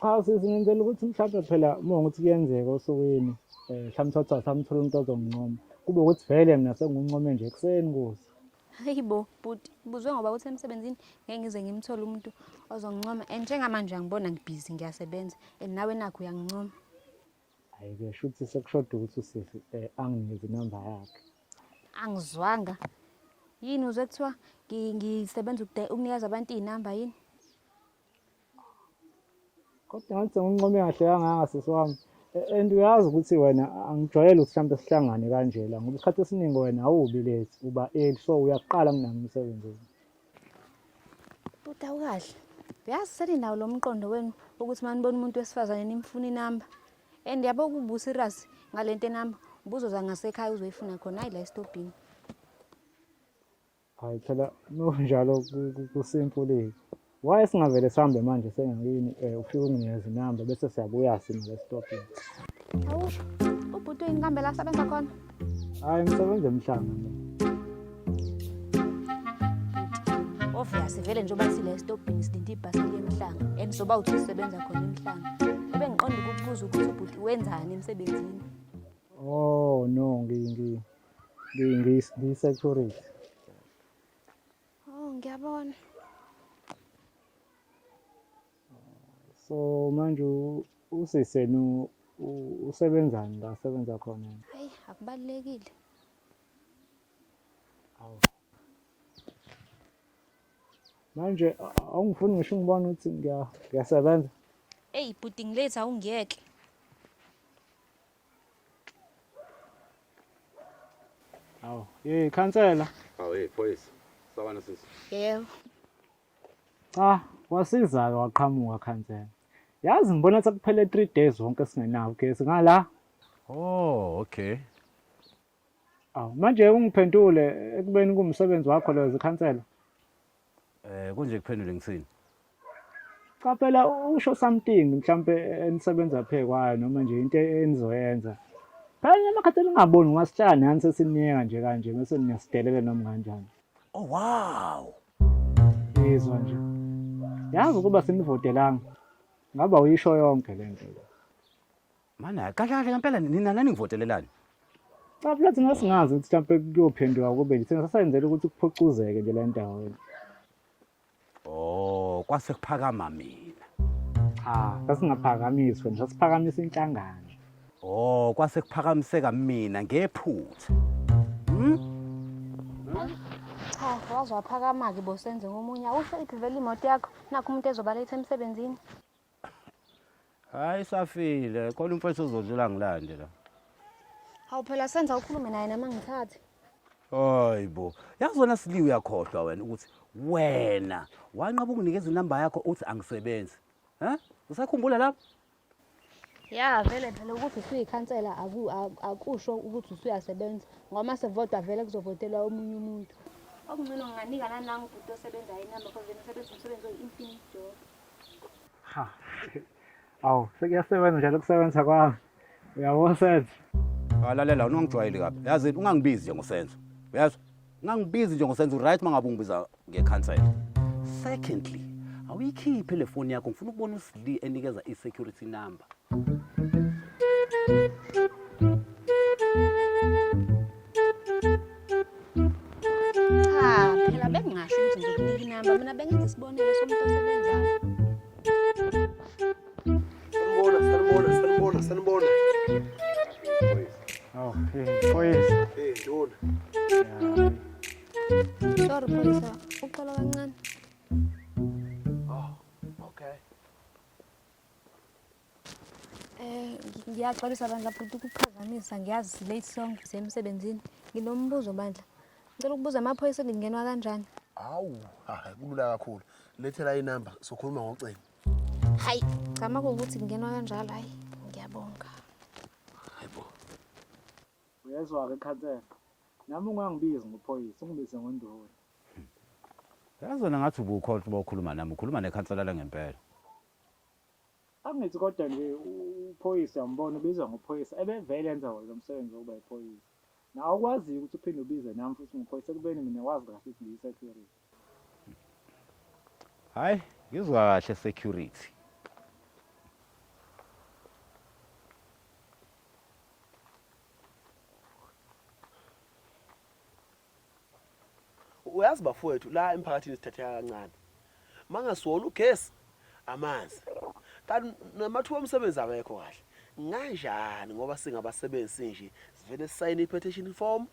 cha sizingenzela ukuthi mhlawumbe phela uma ukuthi kuyenzeka osukwini um mhlawumbe sothi asamthola umuntu ozongincoma kube ukuthi vele mina sengiwuncome nje ekuseni kuze hayi bo bhuti buzwe ngoba ukuthi emsebenzini ngeke ngize ngimthole umuntu ozongincoma and njengamanje angibona ngibhizi ngiyasebenza and nawe nakho uyangincoma Hayi ke shuthi sekushoda ukuthi usisi eh, anginike inamba yakhe. Angizwanga. Yini uze kuthiwa ngi- ngisebenza ukude- ukunikeza abantu izinamba yini? Kodwa ngathi sengincome kahle kangaka sisi wami. Eh, And uyazi ukuthi wena angijwayele ukuthi mhlawumbe sihlangane kanjela ngoba isikhathi esiningi wena awubi late uba early so uyakuqala kunami umsebenzi. Uta ukahle. Uyazi seninawo lo mqondo wenu ukuthi uma nibona umuntu wesifazane nimfuna inamba. And yabo kubusa iras ngale nto enamba ubuzoza ngasekhaya uzoyifuna khona hayi la esitobhini. Hayi phela kunjalo kusimfulile. Why singavele sihambe manje sengakini eh ufike unginikeze inamba bese siyabuya sina la esitobhini. Awu ubhuti uyinkambe la sebenza khona. Hayi ngisebenza emhlanga mina. Obvious vele njengoba sile stopini silinde ibhasi yemhlanga and soba uthi usebenza khona emhlanga. Ube ngiqonda ukukubuza ukuthi ubhuti wenzani emsebenzini. Oh no ngi ngi ngi ngi ngi security. Oh ngiyabona. So manje usisenu usebenzani la sebenza khona? Hayi akubalekile. Awu. Manje awungifuni ngisho ngibona ukuthi ngiya ngiyasebenza. Ey bhuti ngilethe awungiyeke. Awu, hey khansela. Awu, hey phoyisa. Sawubona sisi. Yebo. Cha, wasizaka waqhamuka khansela. Yazi ngibona sekuphele 3 days wonke singenawo ugesi ngala. Oh, okay. Aw, manje ungiphendule ekubeni kumsebenzi wakho leyo zikhansela. Eh kunje kuphendule ngisini. Cha phela usho something mhlambe enisebenza phe kwayo noma nje into enizoyenza. Phela amakhathi ningaboni ungasitshani yani sesiniyeka nje kanje bese niyasidelela noma kanjani. Oh wow. Ngizwa nje. Yazi ukuba senivotelanga. Ngaba uyisho yonke le nto. Mana kahle kahle ngempela nina nani ngivotelelani? Cha phela thina singazi ukuthi mhlawumbe kuyophenduka kube thina sasayenzela ukuthi kuphucuzeke nje le ndawo. Oh, kwase kuphakama mina. Cha, sasingaphakamiswa, sasiphakamisa inhlangano. Oh, kwase kuphakamiseka mina ngephutha. Hmm? Cha, waze waphakama-ke bosenze ngomunye. Awusho iphi vele imoto yakho? Nakho umuntu ezobaletha emsebenzini. Hayi safile, khona umfowethu ozodlula ngilande la. Hawu phela senza ukhulume naye nama ngithathe. Hayi bo, yazi wena siliwe uyakhohlwa wena ukuthi wena wanqaba ukunikeza inamba yakho uthi angisebenzi. He? Usakhumbula lapho? ya vele phela ukuthi usuyikhansela akusho ukuthi usuyasebenza ngoba uma sevotwa vele kuzovotelwa omunye umuntu okungcono nginganika nanangu ubhuti osebenza inamba because yena usebenza umsebenzi oyi-infinite job ha awu sekuyasebenza njalo ukusebenza kwami uyabona senzo walalela unongijwayeli kabi yazi ungangibizi nje ngosenzo uyazwa ngangibizi nje ngosenza uright mangabe ungibiza ngecancel secondly awuyikhiphe le foni yakho ngifuna ukubona usli enikeza i-security number cha phela bengingasho ukuthi ngizokunika inamba mina bengenza isibonelo somuntu osebenzayo Sanibona, sanibona, sanibona, sanibona. Oh, hey, boys. Hey, ndona. Sorry, boys. Uxola kancane. Oh, okay. Eh, ngiyaxolisa bandla futhi ukuphazamisa ngiyazi late song semsebenzini. Nginombuzo bandla. Ngicela ukubuza amaphoyisa ngingenwa kanjani? Hawu, hayi kulula kakhulu. Lethela inamba sokhuluma ngocingo. Hayi, cha uma kuwukuthi kungenwa kanjalo hayi ngiyabonga. Hayibo. Uyezwa-ke khansela. Nami ungangibizi ngophoyisa, ungibize ngonduna. Yazi wena ngathi ubukhohlwa uba ukhuluma nami, ukhuluma nekhansela langempela. Angithi kodwa nje u- uphoyisa uyambona ubizwa ngophoyisa ebevele enza wona lo msebenzi wokuba yiphoyisa. Nawe ukwaziyo ukuthi uphinde ubize nami futhi ngiphoyisa ekubeni mina wazi kahle ukuthi ngiyisecurity. Hayi, ngizwa kahle security. uyazi bafowethu la emphakathini sithatheka kancane mangasiwona ugesi amanzi kanti namathuba omsebenzi awekho kahle nganjani ngoba singabasebenzi sinje sivele sisayine i-petition form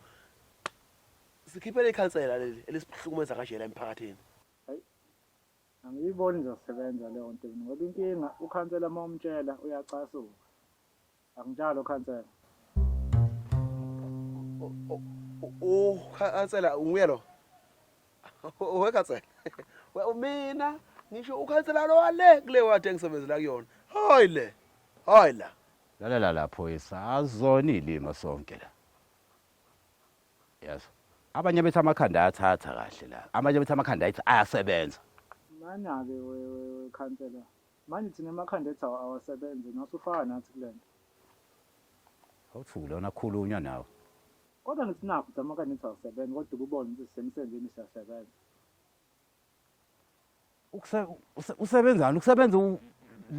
Sikhiphele ikhansela leli elisihlukumeza kanje la emphakathini. Angiyiboni izosebenza leyo nto mina ngoba inkinga ukhansela uma umtshela uyacasuka. Akunjalo khansela. Ukhansela nguye lo. Owe khansela. We umina ngisho ukhansela lo wale kule wadi engisebenzela kuyona. Hayi le. Hayi la. Lalela lapho isazoni ilima sonke la. yazi abanye bethi amakhanda ayathatha kahle la abanye bethi amakhanda ayithi ayasebenza mana-ke wekhansela manje thina emakhanda ethi awasebenze nosufaka nathi kule nto awuthule wona khulunywa nawe kodwa ngithi nakho ukuthi amakhanda ethi awasebenze kodwa ububone ukuthi sisemsebenzini siyasebenza usebenzani ukusebenza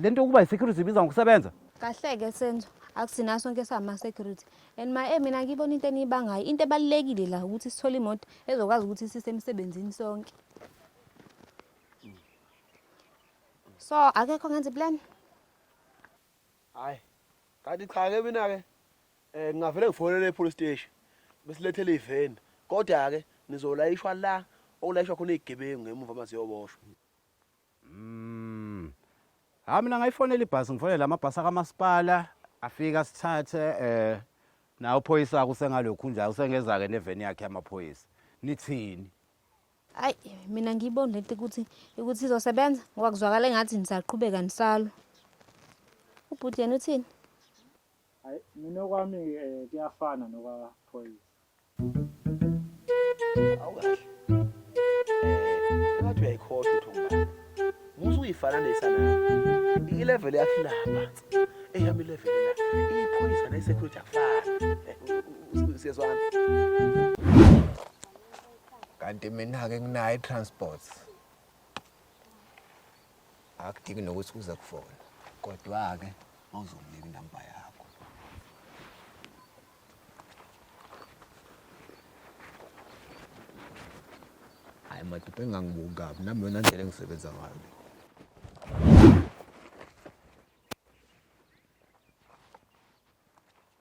le nto yokuba yi-security ibiza ngokusebenza kahleke senzo akusina sonke sama-security and my mina ngiyibona into eniyibangayo into ebalulekile la ukuthi sithole imoto ezokwazi ukuthi sisemsebenzini sonke so akekho ngenza iplan Hayi. Kanti cha ke mina ke eh ngingavele ngifonele epolice station bese lethele iveni. Kodwa ke nizolayishwa la okulayishwa khona izigebengu ngemuva uma ziyoboshwa. Mm. Ha mina ngayifonela ibhasi ngifonela amabhasi akamasipala afika sithathe eh nawo phoyisa kusengalokhu nje usengeza ke neveni yakhe yamaphoyisa. Nithini? Hayi mina ngiyibona lento ukuthi ukuthi izosebenza ngoba kuzwakala engathi nisaqhubeka nisalwa. Ubhuti yena uthini? Hayi mina okwami eh, kuyafana nokwaphoyisa. Awukahle. Eh, ngathi uyayikhohlwa uThombane. Musa uyifana nesana. I-level yakhe lapha. Eyami level la. Iphoyisa ne security akufani. Eh, u- u- u- Siyezwana. kanti mina-ke nginayo i-transport akudingi nokuthi uze kufona kodwa-ke mawuzomnika inamba yakho hhayi madoda engangibuki kabi nami yona ndlela engisebenza ngayo le